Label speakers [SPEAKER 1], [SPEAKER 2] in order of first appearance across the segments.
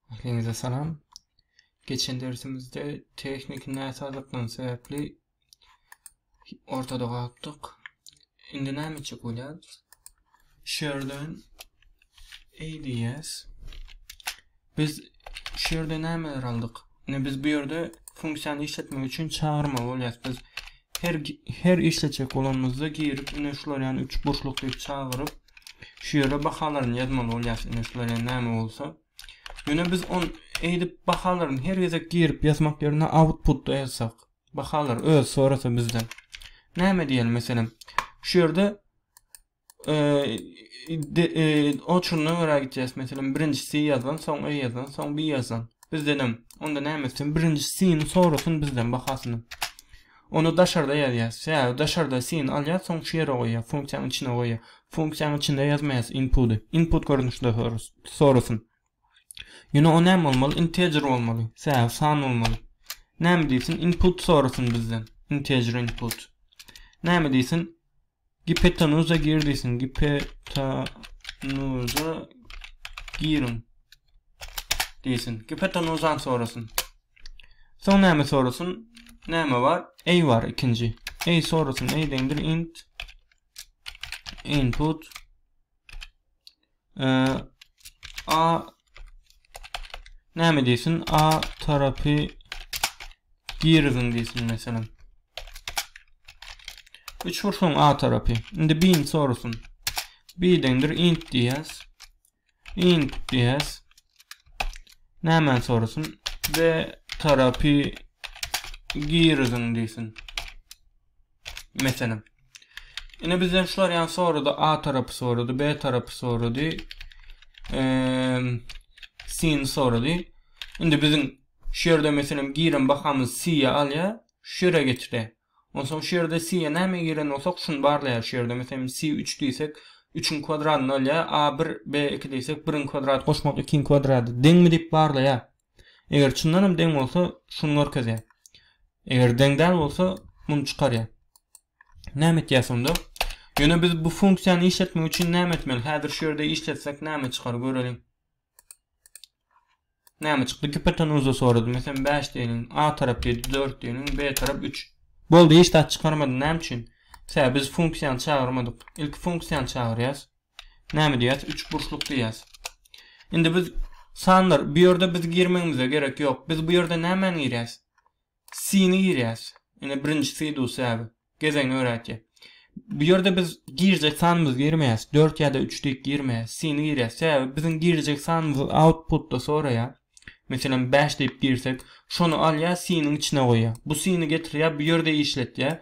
[SPEAKER 1] Hepinize salam. Geçen dersimizde tehnik näsazlykdan sebäpli ortada galypdyk. Indi näme etjek bolýarys? Şu ýerden ADS biz şu ýerde nämeler aldyk? Indi biz bu ýerde funksiýany işletmek üçin çagyrmaly bolýarys. Biz her her işletjek bolanymyzda girip, indi şular ýaly üç burçluk diýip çagyryp, şu ýere bahalaryny ýazmaly bolýarys. Indi şular ýaly näme bolsa, Ýöne biz on eýdip bahalaryny her gezek girip ýazmak ýerine outputda ýazsak, bahalar öz sorasa bizden. Näme diýeli meselem, şu ýerde o çundan gara gitýäs meselem birinji si ýazan soň e ýazan soň bi ýazan bizdenem onda näme etsin birinji sini sorasyn bizden bahasyny onu daşarda ýazýas ýa daşarda sini alýas soň şu ýere goýýas funksiýanyň içine goýýas funksiýanyň içinde ýazmaýas inputy input görnüşde sorasyn ýöne o näme bolmaly integer bolmaly ýa san bolmaly näme diýsin input sorasyn bizden integer input näme diýsin Gipetanuza gir diýsin. Gipetanuza giriň diýsin. Gipetanuzan sorasyn. Soň näme sorasyn? Näme bar? Ey bar ikinji. Ey sorasyn. Ey deňdir int input A näme diýsin? A tarapy giriziň diýsin meselem. Üç ursuň A tarapy. Indi bin sorusyn. Bidendir int diýäs. Int diýäs. Näme sorusyn? B tarapy giriziň diýsin. Meselem. Ine bizden şular ýan sorady, A tarapy sorady, B tarapy sorady. Eee sin sorady. Indi biziň şu ýerde meselem giren bahamyz C-ýe alýar, şu ýere geçdi. Onsoň şu ýerde C-ýe näme giren bolsak, şuny barlaýar şu ýerde. Meselem C 3 diýsek, 3-iň kwadradyny alýar, A 1, B 2 diýsek, 1-iň kwadrady goşmak 2-iň kwadrady deňmi diýip barlaýar. Eger çyndanam deň bolsa şuny görkezýär. Eger deň däl bolsa muny çykarýar. Näme etýäs onda? Ýöne biz bu funksiýany işletmek üçin näme etmeli? Häzir şu ýerde işletsek näme çykar göreliň. Näme çykdy? Gipotenuza sorady. Meselem 5 diýeliň. A tarap diýdi 4 diýeliň. B tarap 3. Boldy hiç zat çykarmady. Näme üçin? Sebäbi biz funksiýany çagyrmadyk. Ilki funksiýany çagyrýas. Näme diýýäs? Üçburçluk diýýäs. Indi biz sanlar bu ýerde biz girmegimize gerek ýok. Biz bu ýerde nämäni girýäs? Sini girýäs. Ine birinji si dusäbi. Gezegini öräýtýär. Bu ýerde biz girjek sanymyzy girmeýäs. 4 ýa-da 3 diýip girmeýäs. Sini girýäs. Sebäbi biziň girjek sanymyzy outputda soraýar. Meselem 5 diýip girsek, şony alýar, siniň içine goýýar. Bu sini getirýär, bu ýerde işletýär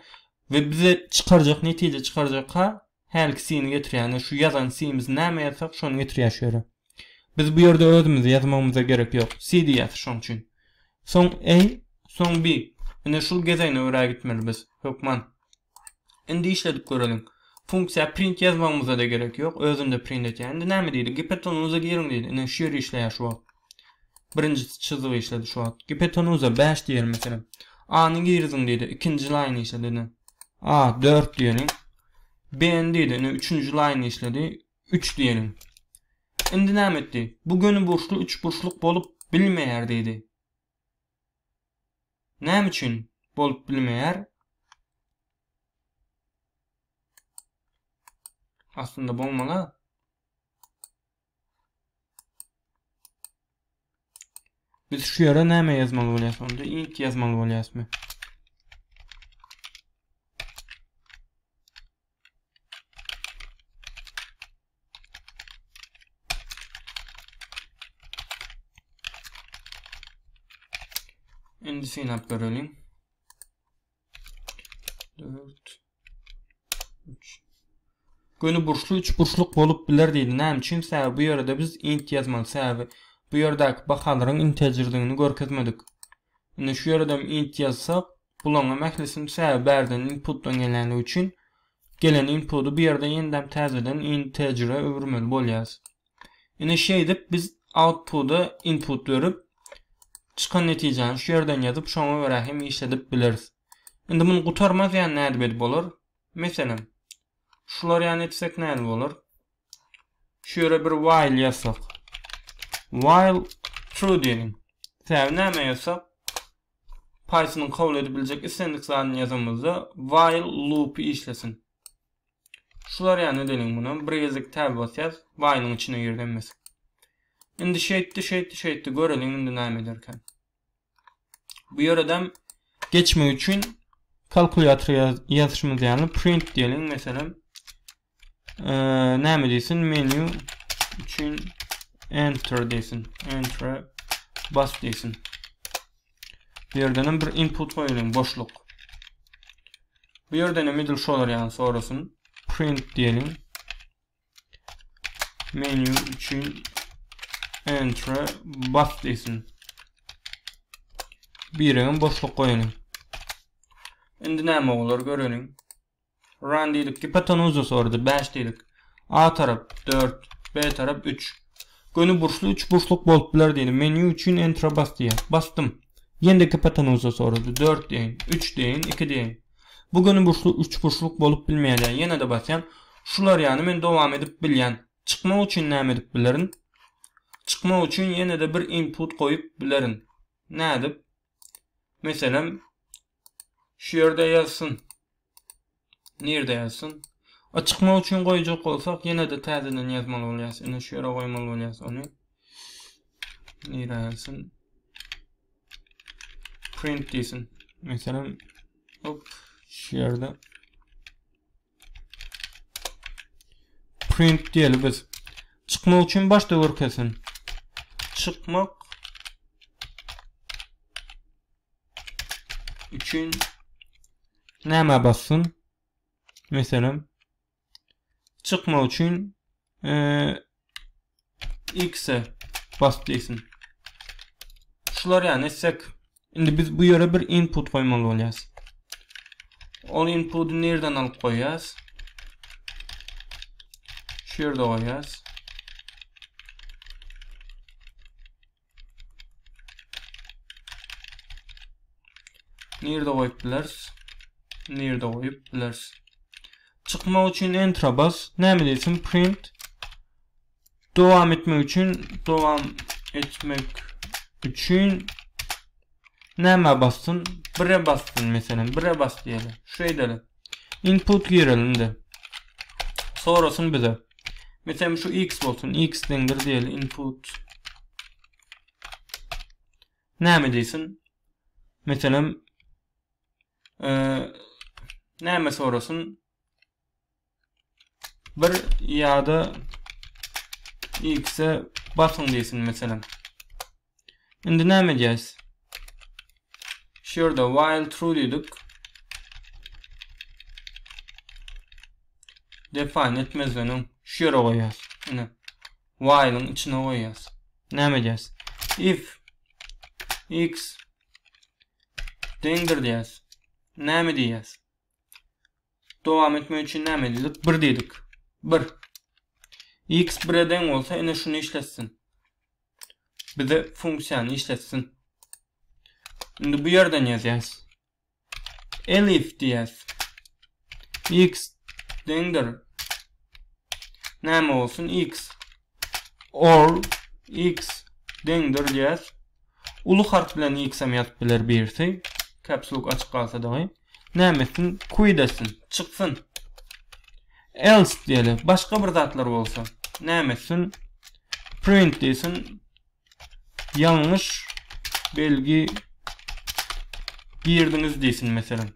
[SPEAKER 1] we bize çykarjak netije çykarjak ha Hälki sini getirýäne şu ýazan simiz näme ýazsak şony getirýär şu ýere. Biz bu ýerde özümizi ýazmagymyza gerek ýok. Si diýýäs şoň üçin. Soň A, soň B. Ine şul gezegine görä gitmeli biz. Hökman. Indi işledip göreliň. Funksiýa print ýazmagymyza-da gerek ýok. Özünde print etýär. Indi näme diýdi? Gptonlyza giriň diýdi. Ine şu ýeri işleýär şu wagt. Birinji çyzygy işledi şu wagt. Gipetenuza bäş diýeli meselem. A-ny giriziň diýdi. Ikinji laýny işledi indi. A dört diýeli. B-ni diýdi. Indi üçünji laýny işledi. Üç diýeli. Indi näme etdi? Bu gönüburçly üçburçluk bolup bilmeýär diýdi. Näme üçin bolup bilmeýär? Aslynda bolmaly. Biz şu ýere näme ýazmaly bolýas? Onda int ýazmaly bolýasmy? Indi synap görelim. 4 3 Göni burçlu 3 burçluk bolup biler diýdi. Näme üçin? Sebäbi bu ýerde biz int ýazmaly. Sebäbi bu ýerdäki bahalaryň integerdigini görkezmedik. Indi şu ýerde hem int ýazsak, bularyň hem ählisini sebäbi bärden inputdan gelenligi üçin gelen inputy bu ýerde ýene-de täzeden integere öwürmeli bolýarys. Indi şeýdip biz outputa input berip, çykan netijäni şu ýerden ýazyp, şoňa görä hem işledip bileris. Indi muny gutarmaz ýaly nädip edip bolar? Meselem, şular ýaly etsek nädip bolar? Şu ýere bir while ýazsak. While true diýelim. Sebäbi näme ýazsak? Python-yň kabul edip biljek islendik zadyny ýazanymyzda while loop işlesin. Şular ýa ne deniň muna bir gezek täze basýas waýnyň içine girdi hemmesi. Indi şeýtdi şeýtdi şeýtdi göreliň indi näme ederkä. Bu ýeredem geçmek üçin kalkulýator ýazyşymyz ýaly print diýeliň meselem näme diýsin menu üçin enter diýsin enter bas diýsin. Bu ýerden hem bir input goýalyň boşluk. Bu ýerden hem edil şolar ýaly sorasyn. Print diýelim. Menu üçin enter bas diýsin. Birem boşluk goýalyň. Indi näme bolar göreliň. Run diýdik. Gipotenuza sorady. Bäş diýdik. A tarap dört. B tarap üç. Göni burçly üç burçluk bolup biler diýdim. Menýu üçin entra bas diýýär. Basdym. Ýene-de gipotenuza sorady. Dört deýin. Üç deýin. Iki deýin. Bu göni burçly üç burçluk bolup bilmeýär diýýär. Ýene-de basýan. Şular ýaly men dowam edip bilýän. Çykmak üçin näme edip bilerin? Çykmak üçin ýene-de bir input goýup bilerin. Nädip? Meselem, Şu ýerde ýazsyn. Nirde ýazsyn? A çykmak üçin goýjak bolsak, ýene-de täzeden ýazmaly bolýas. Ine şu ýere goýmaly bolýas ony. Nirä ýazsyn? Print diýsin. Meselem, hop, şu ýerde. Print diýeli biz. Çykmak üçin başda görkezsin. Çykmak üçin näme bassyn? Meselem, çykmak üçin X-e bas diýsin. Şular ýa etsek. Indi biz bu ýere bir input goýmaly bolýas. Ol inputy nirden alyp goýýas? Şu ýerde goýýas. Nirde goýup bileris? Nirde goýup bileris? Çykmak üçin enter bas. Näme diýsin? Print. Dowam etmek üçin, dowam etmek üçin Nämä bassyn? Bire bassyn meselem. Bire bas diýeli. Şu edeli. Input girelinde. Sorasyn bize. Meselem şu x bolsun. x deňdir diýeli. Input. Näme diýsin? Meselem e, näme sorasyn? 1 ýa-da X-e basyň diýsin meselem. Indi näme edýäs? Şu ýerde while true diýdik. Define etmezden öň şu ýere goýýas. Ine. While-iň içine goýýas. Näme edýäs? If x deňdir diýýäs. Näme diýýäs? Dowam etmek üçin näme edildik? 1 diýdik. 1. X 1-e deň bolsa, ine şuny işletsin. Bize funksiýany işletsin. Indi bu ýerden ýazýas. Elif diýýäs. X deňdir. Näme bolsun? X Ol x deňdir diýýäs. Uly harp bilen x hem ýazyp biler birisi. Caps lock açyk galsa dagy. Näme etsin? Quit etsin. Çyksyn. Else diýeli. Başga bir zatlar bolsa. Näme etsin? Print diýsin. Ýalňyş belgi girdiňiz diýsin meselem.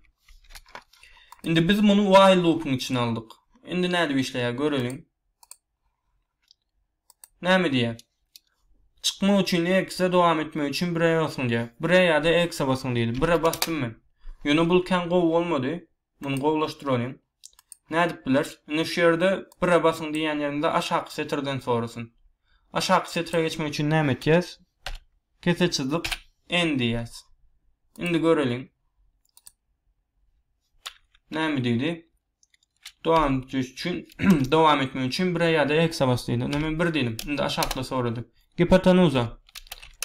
[SPEAKER 1] Indi biz muny while loopyň içine aldyk. Indi nädip işleýär göreliň. Näme diýýär? Çykmak üçin X-e dowam etmek üçin 1-e basyň diýýär. 1-e ýa-da X-e basyň diýdi. 1-e basdym men. Ýöne bul kän gowy bolmady. Muny gowulaşdyralyň. Nädip bileris? Indi şu ýerde 1-e basyň diýýän ýerimizde aşaky setirden sorasyn. Aşaky setire geçmek üçin näme etýäs? Kese çyzyp N diýýäs. Indi göreliň. Näme diýdi? Dowam etmek üçin, dowam etmek üçin bire ýa-da eksa bas diýdi. Onda men bir diýdim. Indi aşakda sorady. Gipotenuza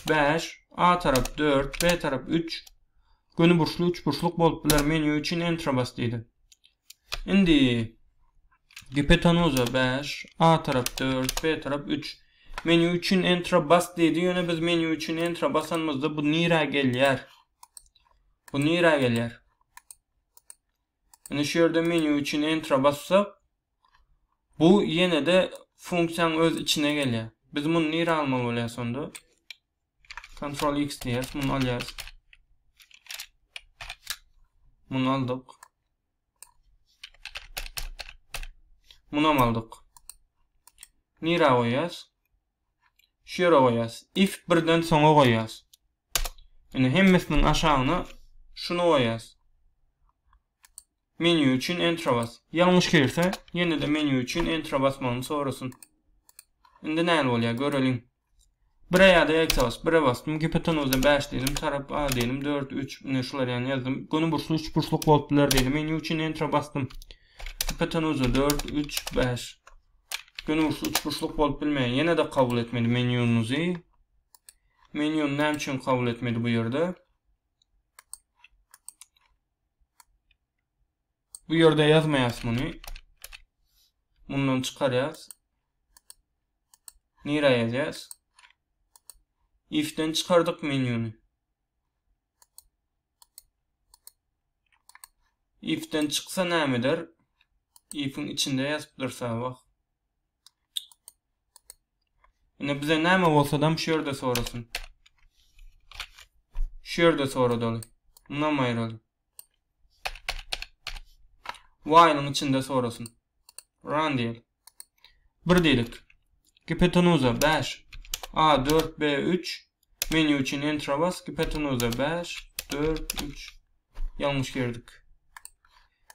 [SPEAKER 1] 5, A tarap 4, B tarap 3, göni burçly 3 burçluk bolup biler. Menýu üçin Enter bas diýdi. Indi gipotenuza 5, A tarap 4, B tarap 3. Menýu üçin Enter bas diýdi. Ýöne biz menýu üçin Enter basanymyzda bu nirä gelýär? Bu nirä gelýär? Indi şu ýerde menýu üçin Enter-a bassak, bu ýene-de funksiýanyň öz içine gelýär. Biz muny nirä almaly bolýarys onda? Ctrl X diýýäs, muny alýarys. Muny aldyk. Munam aldyk. Nira goýýas? Şu ýere goýýas. If birden soňa goýýas. Indi hemmesiniň aşagyna şuny goýýas. Menýu üçin Enter bas. Ýalňyş girse, ýene-de menýu üçin Enter basmagyny sorasyn. Indi näl bolýar, göreliň. Bire ýa-da X-e bas. Bire basdym. Gipotenuzda 5 diýdim. Tarap A diýdim. 4, 3, ine şular ýany ýazdym. Göni burçly üç burçluk bolup biler diýdim. Menýu üçin Enter basdym. Gipotenuzda 4, 3, 5. Göni burçly üç burçluk bolup bilmeýär. Ýene-de kabul etmeli menýunuzy. Menýuny näme üçin kabul etmedi bu ýerde? Bu ýerde ýazmaýas muny. Mundan çykarýas. Nira ýazýas? Ifden çykardyk menýuny. Ifden çyksa näme eder? Ifiň içinde ýazyp dursa wah. Ine bize näme bolsadam şu ýerde sorasyn. Şu ýerde soradaly. Munam aýraly. While-yň içinde sorasyn. Run diýeli. Bir diýelik. Gipotenuza bäş. A dört B üç. Menýu üçin Enter-a bas. Gipotenuza bäş, dört, üç. Ýalňyş girdik.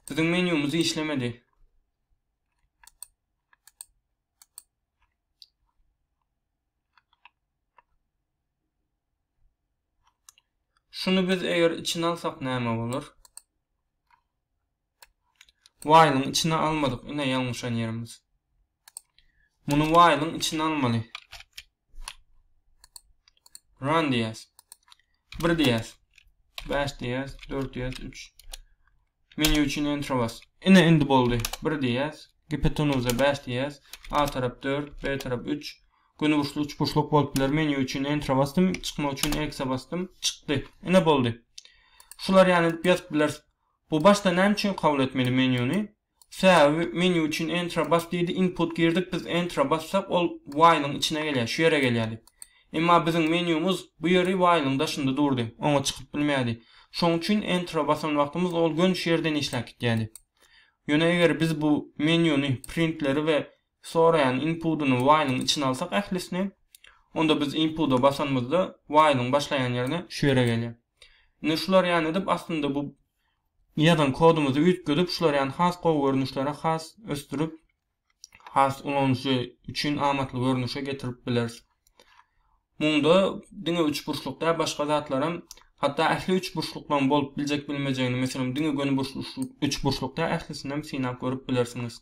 [SPEAKER 1] Biziň menýumyz işlemedi. Şuny biz eger içine alsak näme bolar? Waýlyň içine almadyk ine ýalňyşan ýerimiz. Muny waýlyň içine almaly. Run diýäs. 1 diýäs. 5 diýäs, 4 diýäs, 3. Menýu üçin enter bas. Ine indi boldy. 1 diýäs. Gipotenoza 5 diýäs. A tarap 4, B tarap 3. Gönüburçly üçburçluk bolup biler. Menýu üçin enter basdym. Çykmak üçin X-e basdym. Çykdy. Ine boldy. Şular ýaly edip ýazyp bileris. Bu başda näme üçin kabul etmeli menýuny? Sebäbi menýu üçin Enter-a bas diýdi, input girdik, biz Enter-a bassak ol while-yň içine gelýär, şu ýere gelýärdi. Emma biziň menýumyz bu ýeri while-yň daşynda durdy, oňa çykyp bilmeýärdi. Şoň üçin Enter-a basan wagtymyz ol gönüş ýerden işläp gidýärdi. Ýöne eger biz bu menýuny, printleri we soraýan inpudyny while-yň içine alsak ählisini, onda biz inpuda basanymyzda while-yň başlaýan ýerine şu ýere gelýär. Indi şular ýany edip aslynda bu ýazan kodumyzy üýtgedip şular ýany has gowy görnüşlere has ösdürip has ulanyjy üçin amatly görnüşe getirip bileris. Munda diňe üçburçluk däl, başga zatlaram, hatda ähli üçburçluklaryň bolup biljek-bilmejegini, meselem, diňe gönüburçly üçburçluk däl, ählisinem synap görüp bilersiňiz.